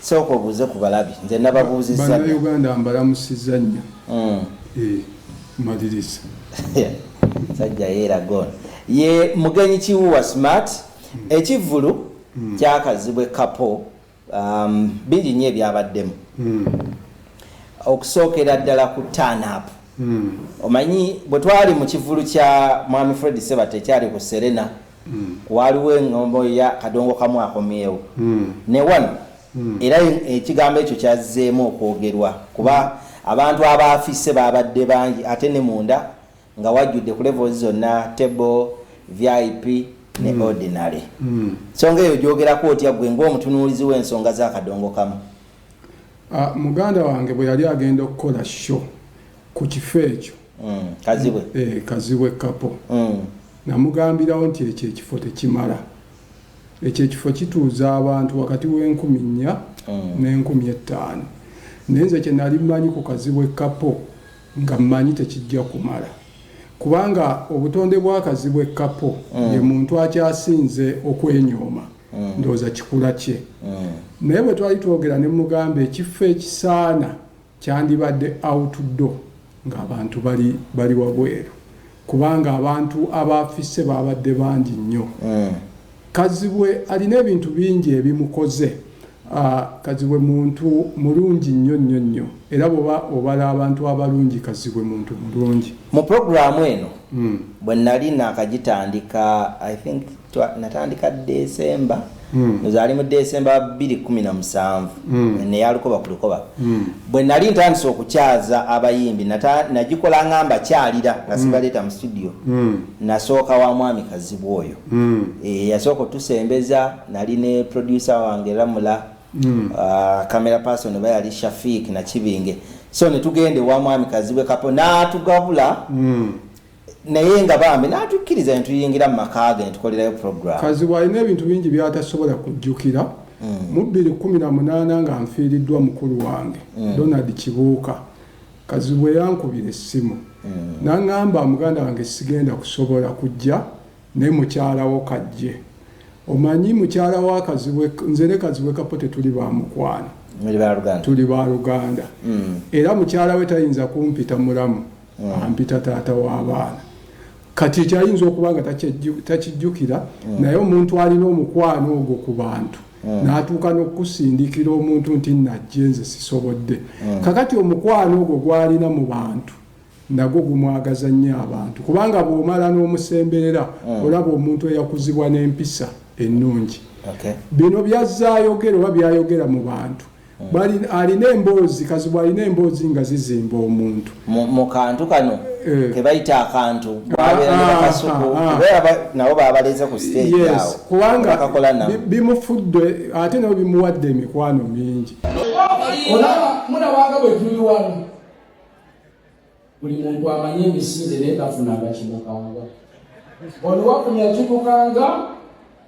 sooka obuuze ku balabi nze nababuuzizabanauganda mbalamusiza nnyo mm. eh, maliriza sajja yeeragon ye mugenyi kiwuwa smart mm. ekivvulu mm. kyakazibwe kapo Um, bingi nnyo ebyabaddemu mm. okusookera ddala ku tanapu mm. omanyi bwe twali mu kivulu kya mwami fred sebata ekyali ku serena mm. waaliwo engombo ya kadongo kamu akomyewo mm. ne wano mm. era ekigambo ekyo kyazzeemu okwogerwa kuba mm. abantu abaafise baabadde bangi ate ne munda nga wajjudde ku levels zonna table vip ne mm. ordinary mm. songa eyo gyogerako otya gwe ngaomutunuulizi w'ensonga z'akadongo kamu ah, muganda wange bwe yali agenda okukola sho ku kifo ekyo mm, kazibwe eh, kazibwe kapo namugambirawo nti ekyo ekifo tekimala ekyo ekifo kituuza abantu wakati w'enkumi nnya n'enkumi ettaano naye nze kye nali mmanyi ku kazibwe kapo nga mmanyi tekijja kumala kubanga obutonde bw'akazi bw'e Kapo mm. ye muntu akyasinze okwenyooma mm. ndowooza kikula kye mm. naye bwe twali twogera ne mugamba ekifo ekisaana kyandibadde outdoor ng'abantu bali bali wabweru kubanga abantu abaafise baabadde bangi nnyo mm. kazibwe alina ebintu bingi ebimukoze Kazibwe muntu mulungi nnyo nnyo nnyo era bwoba obala abantu abalungi Kazibwe muntu mulungi. Mu program eno bwe nali nakagitandika I think natandika December ndoza ali mu December bbiri kkumi na musanvu neya lukoba ku lukoba bwe nali ntandise okukyaza abayimbi nagikola nga mbakyalira nga sibaleeta mu studio nasooka wa mwami Kazibwe oyo eyasooka otusembeza nali ne producer wange lamula mm. uh, camera person oba yali shafik nakibinge so netugende wa mwami kazibwe kapo natugabula mm. naye nga bambi natukkiriza netuyingira mu maka ge netukolerayo program kazibwe alina ebintu bingi byatasobola kujjukira mm. mu bbiri kumi na munaana nga nfiiriddwa mukulu wange mm. donald kibuuka kazibwe yankubira essimu mm. nangamba muganda wange sigenda kusobola kujja Naye mukyala wo kajje. Omanyi mukyala wa kazibwe nze ne kazibwe kapo tetuli ba mukwano. Muli ba Luganda. Tuli ba Luganda. Mm. Era mukyala we tayinza kumpita mulamu. Mm. Ampita taata wa baana. Kati ekyayinza okuba nga takijjukira mm. naye omuntu alina omukwano ogwo ku bantu. Mm. natuuka n'okukusindikira omuntu nti najje nze sisobodde mm. kakati omukwano ogwo gwalina mu bantu nagwo gumwagaza nnyo abantu kubanga bw'omala n'omusemberera mm. olaba omuntu eyakuzibwa n'empisa ennungi okay. bino byazza ayogera oba byayogera mu bantu mm. alina emboozi kazibwa alina emboozi nga zizimba omuntu mu kantu kano eh. kebayita akantu ah, ah, ah, nabo babaleze ku kubanga bimufudde ate nabo bimuwadde emikwano mingi olaba munawanga bwetuli wano buli muntu amanyi emisinde naye tafunanga kimukanga ono wakunya kimukanga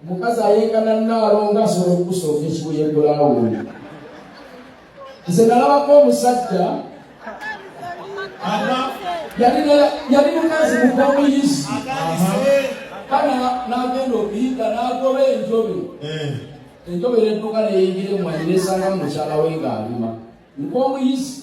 omukazi ayengana naalo nga asobola okusooka ekibuye bulawuni nze nalabako omusajja yali mukazi mukomuyizi kana nagenda okuyita nagoba enjobe eh. enjobe nedduka neyingire mwanyi nesanga mumukyala we ngaalima nkomuyizi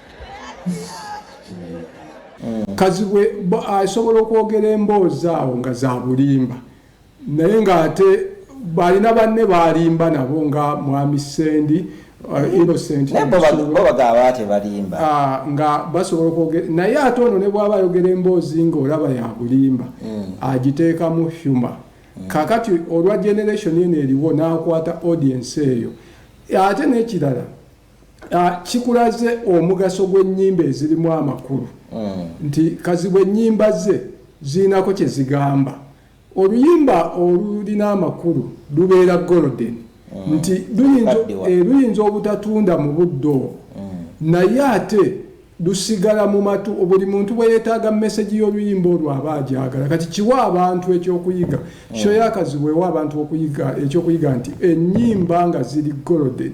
kazibwe asobola okwogera emboozi awo nga za bulimba naye ng'ate balina banne balimba nabo nga mwami sendi uh, innocentbatebalimba ah, nga basobola okwogera naye ate ono ne bwaba ayogera emboozi ng'olaba ya bulimba hmm. agiteekamu humor hmm. kakati olwa generation eno eriwo n'akwata audience eyo ate n'ekirala Ah, kikulaze omugaso gw'ennyimba ezirimu amakulu mm. nti kazibwe ennyimba ze zirinako kye zigamba oluyimba olulina amakulu lubeera golden mm. nti eh, luyinza obutatunda mu budde obwo mm. naye ate lusigala mu matu buli muntu bwe yeetaaga mesegi y'oluyimba olwo aba agyagala kati kiwa abantu ekyokuyiga kyoyakazibwewo abantu okuyiga ekyokuyiga nti ennyimba nga ziri golden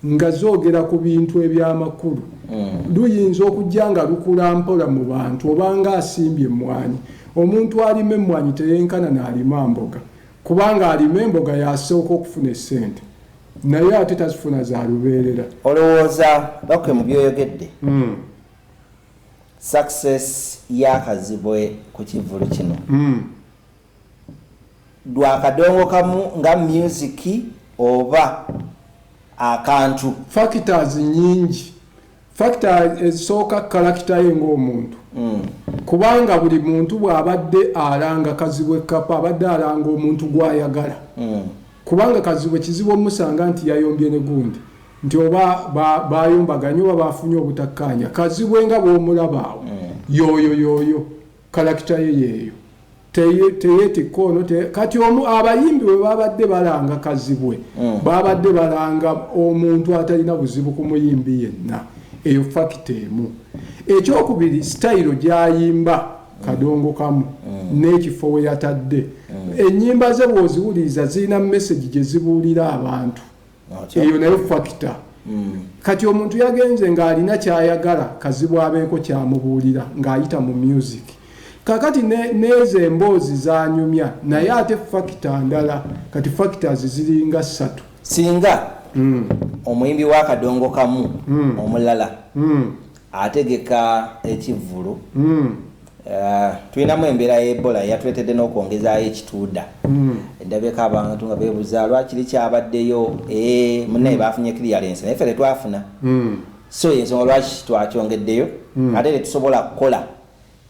nga zoogera ku bintu eby'amakulu mm. luyinza okujja nga lukula mpola mu bantu obanga asimbye emmwanyi omuntu alima emmwanyi teyenkana n'alima mboga kubanga alima emboga yasooka okufuna essente naye ate tazifuna za lubeerera olowooza bakwe mu byoyogedde mm. success yakazibwe ku kivulu kino mm. dwa kadongo kamu nga music oba akantu. Factors nyingi. Factor ezisooka character ye ng'omuntu. Mm. Kubanga buli muntu bw'abadde alanga kazibwe kapa abadde alanga omuntu gw'ayagala. Mm. Kubanga kazibwe kizibu omusanga nti yayombye ne gundi. Nti oba bayombaganye ba oba bafunye obutakkaanya. Kazibwe nga bw'omulaba awo. Mm. Yoyo yoyo. kalakita ye yeeyo teyeetikka ono kati omu abayimbi bwe babadde balanga kazibwe mm. babadde balanga omuntu atalina buzibu ku muyimbi yenna eyo fakita emu ekyokubiri sitayiro gyayimba kadongo kamu mm. n'ekifo we yatadde mm. ennyimba ze bw'oziwuliriza zirina mesegi gye zibuulira abantu eyo naye fakita hmm. kati omuntu yagenze ng'alina kyayagala kazibwa abeeko kyamubuulira ng'ayita mu music kakati neezo emboozi zanyumya naye ate fakita ndala kati fakitas ziringa ssatu singa hmm. omuyimbi w'akadongo kamu hmm. omulala ategeka ekivvulu Uh, tulinamu embeera ya ebola yatuletedde n'okwongezaayo ekituuda mm. endabeko abantu nga bebuza lwaki likyabaddeyo eh, munaye mm. bafunye clearance naye fe tetwafuna mm. so yensonga lwaki twakyongeddeyo mm. ate tetusobola kukola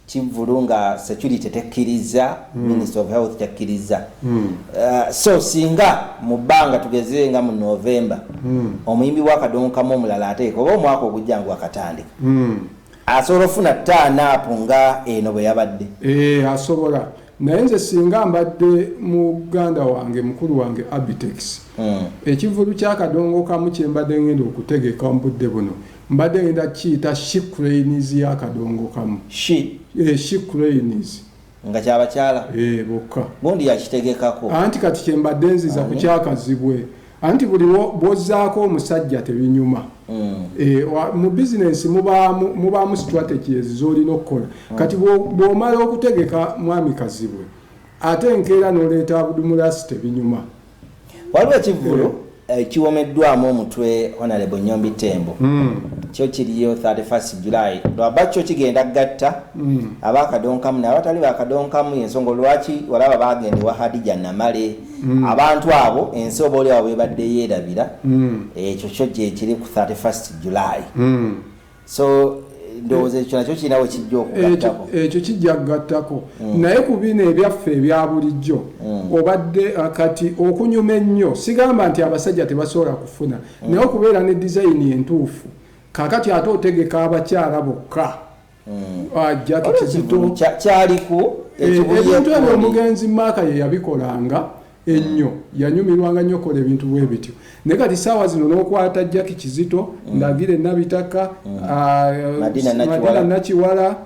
kivulu nga security tekkiriza mm. minister of health tekkiriza mm. uh, so singa mu bbanga tugeze nga mu november mm. omuyimbi wakadongokamu omulala ateeka oba omwaka ogujja ngu akatandika mm. asobola ofuna taanaapu nga eno bwe yabadde ee eh, asobola naye nze singa mbadde muganda wange mukulu wange abitex hmm. ekivulu kyakadongo kamu kyembadde ngenda okutegeka mubudde buno mbadde ngenda kiyita shicrains yakadongo kamu shicrains eh, nga kyabakyala eh, bokka gundi yakitegekako anti kati kyembadde nziza ku kyakazibwe anti buli bwozaako omusajja tebinyuma mm. eh, mu bizinensi mubaamu strategies zolina okukola mm. kati bwomala okutegeka mwami kazibwe ate enkeera noleeta abudumulasi tebinyuma waliwo ekivvulu eh. eh, kiwomeddwamu omutwe honarebo nyombi tembo hmm. kyo kiriyo 31 july lwaba kyo kigenda gatta hmm. abakadonkamu nabatali bakadonkamu ensonga lwaki walaba bagenda ewa hadija namale hmm. abantu abo ensi oba oliawo bebadde yerabira ekyo kyo gyekiri ku 31 july so ndowooza ekyo nakyo kirina we kijja okugattako ekyo kijja kugattako mm. naye ku bino ebyaffe ebya bulijjo mm. obadde uh, kati okunyuma ennyo sigamba nti abasajja tebasobola kufuna mm. naye okubeera ne dizayini entuufu kakati ate otegeka abakyala bokka uh, jakiti zito kyaliku eh, ebintu ebyo omugenzi maaka ye yabikolanga ennyo yanyumirwanga nnyo kola ebintu bwe bityo naye kati saawa zino n'okwata jaki kizito mm. ndagire nabitaka mm. ah, madina nakiwala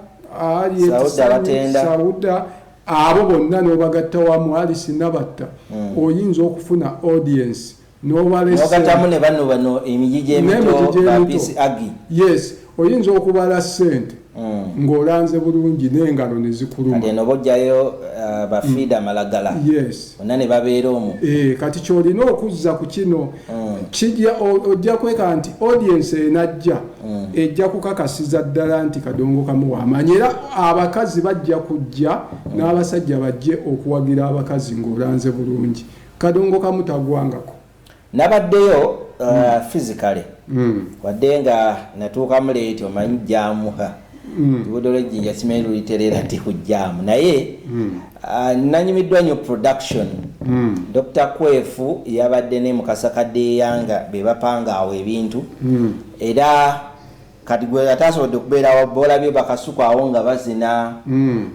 sauda abo bonna n'obagatta wamu ali sinabatta mm. oyinza okufuna audience nogatamu ne bano bano emiji gyemito bapisi agi yes oyinza okubala sente mm. ng'olanze bulungi n'engalo ne zikulumano bojjayo uh, bafiida mm. amalagala yes ona ne babeera omu e, kati kyolina okuzza ku kino mm. kijja ojja kweka nti audiensi enajja mm. ejja kukakasiza ddala nti kadongo kamu wamanyi era abakazi bajja kujja mm. n'abasajja bajje okuwagira abakazi ng'olanze bulungi kadongo kamu tagwangako nabaddeyo uh, mm. physically mm. wadde nga natuukamu leeti omanyi jamuha mm. luguudo lwejjinja simanyi luliterera nti kujjaamu naye mm. uh, nanyumiddwa nyo production mm. dr kwefu yabadde ne mukasa kadde eyanga bebapanga awo ebintu mm. era kati gwe atasobodde kubeerawo boolabye bakasuku awo nga bazina mm.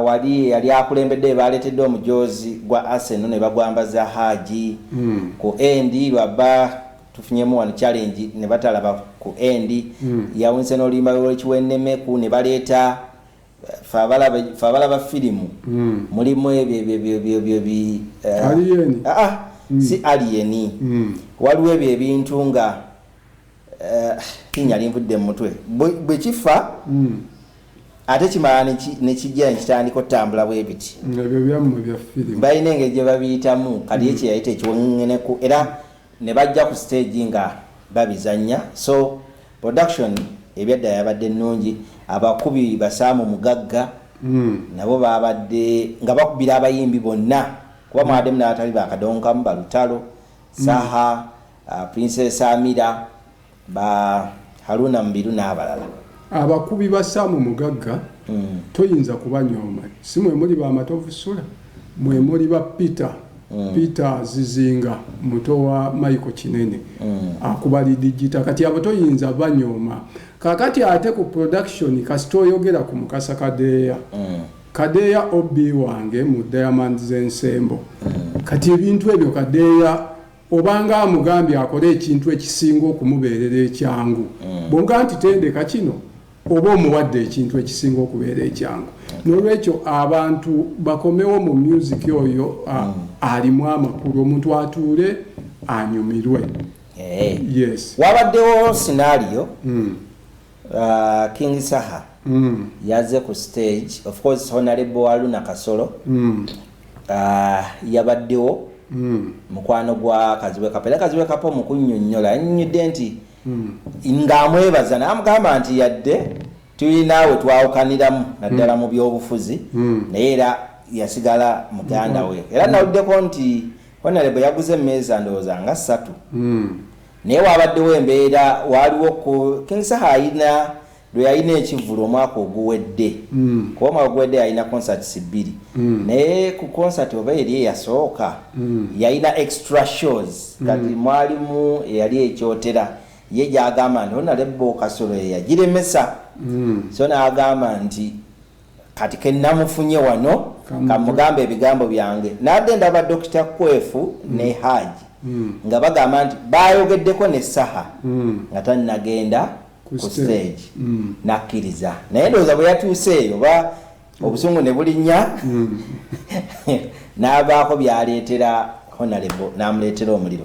wali yali akulembedde baaleetedde omujoozi gwa aseno ne bagwambaza haaji mm. ku endi lwabba tufunyemu wano challenge ne batalaba ku endi mm. yawunise n'oluyimba lwekiwenemeku ne baleeta fe abalaba firimu mm. mulimu ebyo ebyobyobyobyobi eh, aliyeni ah, ah, mm. si aliyeni mm. waliwo ebyo ebintu nga tinya eh, linvudde mu mutwe bwe kifa hmm. ate kimala nekijja nekitandika otambula bwe biti balina engeri gye babiyitamu kati ye hmm. kyeyayita ekiwongeneku era ne bajja ku stage nga babizannya so production ebyadda yabadde ennungi abakubi basaamu mugagga hmm. nabo babadde nga bakubira abayimbi bonna kuba mwademu nabatali bakadonkamu balutalo saha mm. Princess Amira, ba Haruna Mubiru n'abalala. Abakubi ba Sam Mugagga mm. toyinza kubanyooma, si mwe muli ba Matovu Sula, mwe muli ba Peter mm. Peter Zizinga muto wa Michael Kinene mm. akuba lidigita, kati abo toyinza banyooma. Kakati ate ku production kasita oyogera ku Mukasa Kadeeya mm. Kadeeya OB wange mu Diamond z'ensembo mm. kati ebintu ebyo Kadeeya Obanga amugambye akole ekintu ekisinga okumubeerera ekyangu, mm. bwonga nti tendeka kino oba omuwadde ekintu ekisinga okubeera ekyangu. N'olwekyo abantu bakomewo mu myuziki oyo mm. alimu amakulu, omuntu atuule anyumirwe. Eh. Yes. Wabaddewo sinaaliyo. Mm. Uh, king saha mm. yaze ku stage of course honalebo wa luna kasolo mm. uh, yabaddewo mm. mukwano gwa kaziwe kapo era kaziwe kapo mukunyonyola yanyonyodde nti mm. ngaamwebaza namugamba nti yadde tulinaawe twawukaniramu naddala mm. mu byobufuzi mm. naye era yasigala muganda mm. we era mm. nawuddeko nti honalebo yaguze emeeza ndowooza nga ssatu mm. Naye waabaddewo embeera, waaliwo kku, King Saha alina lwe yalina ekivvulu omwaka oguwedde, kuba omwaka oguwedde yalina concerts bbiri, naye ku concert oba eri eyasooka, yalina extra shows, kati mwalimu eyali e Kyotera, ye gy'agamba nti Honalebbo Kasolo ye yagiremesa, so n'agamba nti kati kenamufunye wano kamugambe ebigambo byange nagenda ba dokita kwefu mm. ne haji mm. nga bagamba nti bayogeddeko ne saha mm. nga tanagenda ku stage mm. nakkiriza naye ndowooza bwe yatuuse eyo oba mm. obusungu ne bulinnya mm. n'abaako byaleetera honalebo n'amuleetera omuliro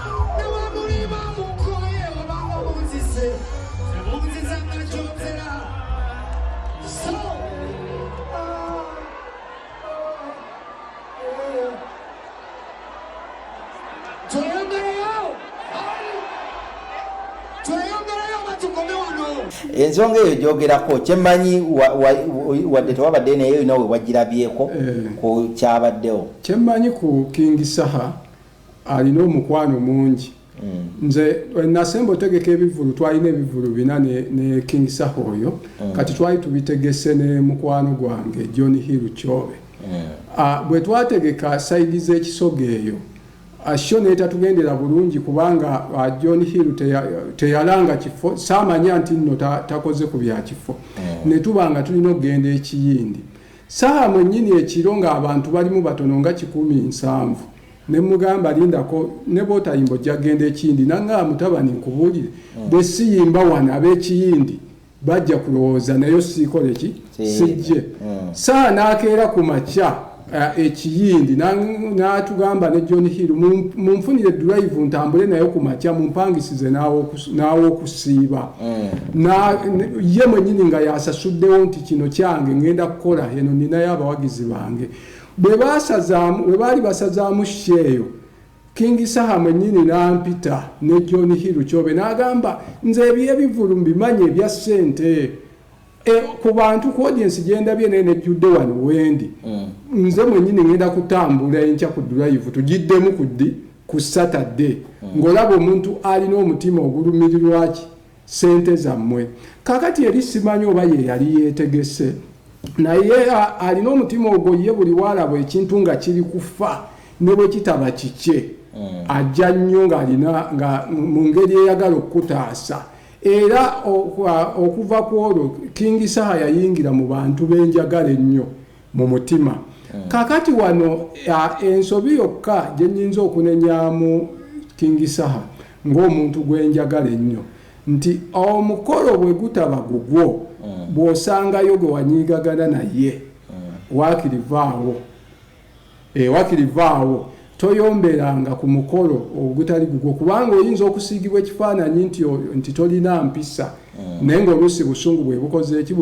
ensonga eyo gyogerako kyemanyi wadde tewabadde naye olina wewagirabyeko eh. ku kyabaddewo kyemanyi ku king saha alina omukwano mungi mm. nze eh, nasemba otegeka ebivulu twalina ebivulu bina ne, ne king saho oyo mm. kati twali tubitegese ne mukwano gwange john hill kyobe yeah. uh, bwe twategeka saidi z'ekisoga eyo asho ah, netatugendera bulungi kubanga ah, john hill teyalanga kifo samanya nti nno takoze ku byakifo mm. netuba nga tulina okugenda ekiyindi saha mwenyini ekiro nga abantu balimu batono nga kikumi nsanvu ne mugamba lindako ne bwotayimba ojja kugenda ekiyindi nangamba mutabani nkubuulire hmm. bwe siyimba wano ab'ekiyindi bajja kulowooza naye osiikole ki sijje hmm. saa n'akeera ku makya eh, ekiyindi n'atugamba ne john hill munfunire drive ntambule naye ku makya mumpangisize n'aw'okusiiba hmm. ye mwenyini nga yasasuddewo nti kino kyange ngenda kukola eno ninayo abawagizi bange Bwe baasazaamu, bwe baali basazaamu sho eyo, King Saha mwennyini n'ampita ne John Hill Kyobe n'agamba nze eby'ebivvulu mbimanyi ebya ssente e, ku bantu ku audience gye ndabye naye nejjudde wano wendi mm. nze mwennyini ngenda kutambula enkya ku drive tugiddemu ku ddi ku Saturday mm. ng'olaba omuntu alina omutima ogulumirirwaki sente zamwe kakati eri simanyi oba ye yali yetegese naye alina omutima ogwo ye buli waalaba ekintu nga kiri kufa ne bwe kitaba kikye mm. ajja nnyo ng'alina nga mu ngeri eyagala okukutaasa era okuva ku olwo kingi saha yayingira mu bantu benjagala ennyo mu mutima mm. kakati wano ensobi yokka gye nnyinza okunenyamu kingisaha ng'omuntu gwe njagala ennyo nti omukolo bwe gutaba gugwo mm. bw'osangayo gwe wanyiigagana naye mm. waakirivaawo E, wakiri vaawo toyomberanga ku mukolo ogutali gugwo kubanga oyinza okusiigibwa ekifaananyi nti nti tolina mpisa mm. naye ngaoluusi busungu bwebukozeeki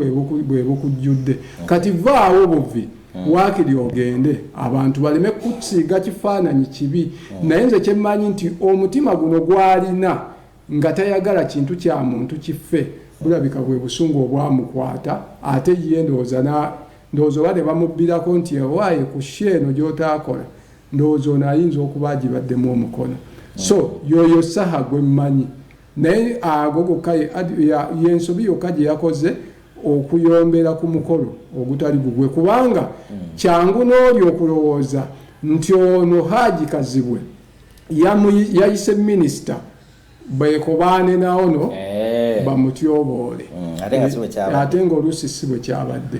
bwebukujjudde mm. kati vaawo buvi mm. waakiri ogende abantu baleme kusiiga kifaananyi kibi naye nze kyemmanyi nti omutima guno gwalina Nga tayagala kintu kya muntu kiffe bulabika bwe busungu obwamukwata ate ye ndowooza na ndowooza oba ne bamubbirako nti owaaye ku show eno gy'otaakola ndowooza ono ayinza okuba agibaddemu omukono so yoyo saha gwe mmanyi naye ago gokka y'ensobi yokka gye yakoze okuyombera ku mukolo ogutali gugwe kubanga kyangu n'oli okulowooza nti ono haaji kazibwe yayise minisita bekobaane naono eh. bamutyoboole mm, ate nga oluusi si bwe kyabadde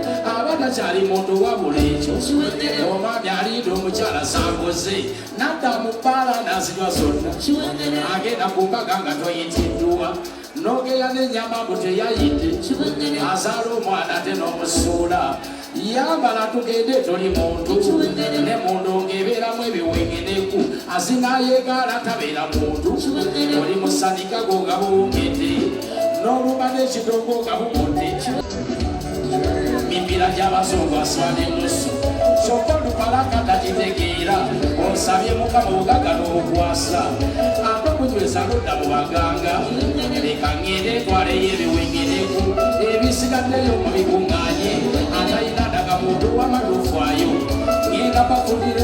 aba takyali muntu wabula ekyo oba byaliida omukyala sangoze nadda mu bbaala nazirwa zonna agenda ku mbaga nga toyitiddwa nogeya nenyama mbu teyayidde azaala omwana te n'omusuula yambala tugende toli muntu ne mundu ngebeeramu ebiwengeneku azinayegaala tabeera muntu oli musanika gogabowongedde n'obubadde ekidongo nga bubudde mimbira gy'abazungu aswala ennusu kyokka olupalaka takitegeera osabye mukama obugaga n'obukwasa ate okunyweza ludda mu baganga leka ngende etwaleyo ebiwengereku ebisigaddeyo mu bikuŋŋanye atalina daga muntu wamaluufwayo ngenda bakundire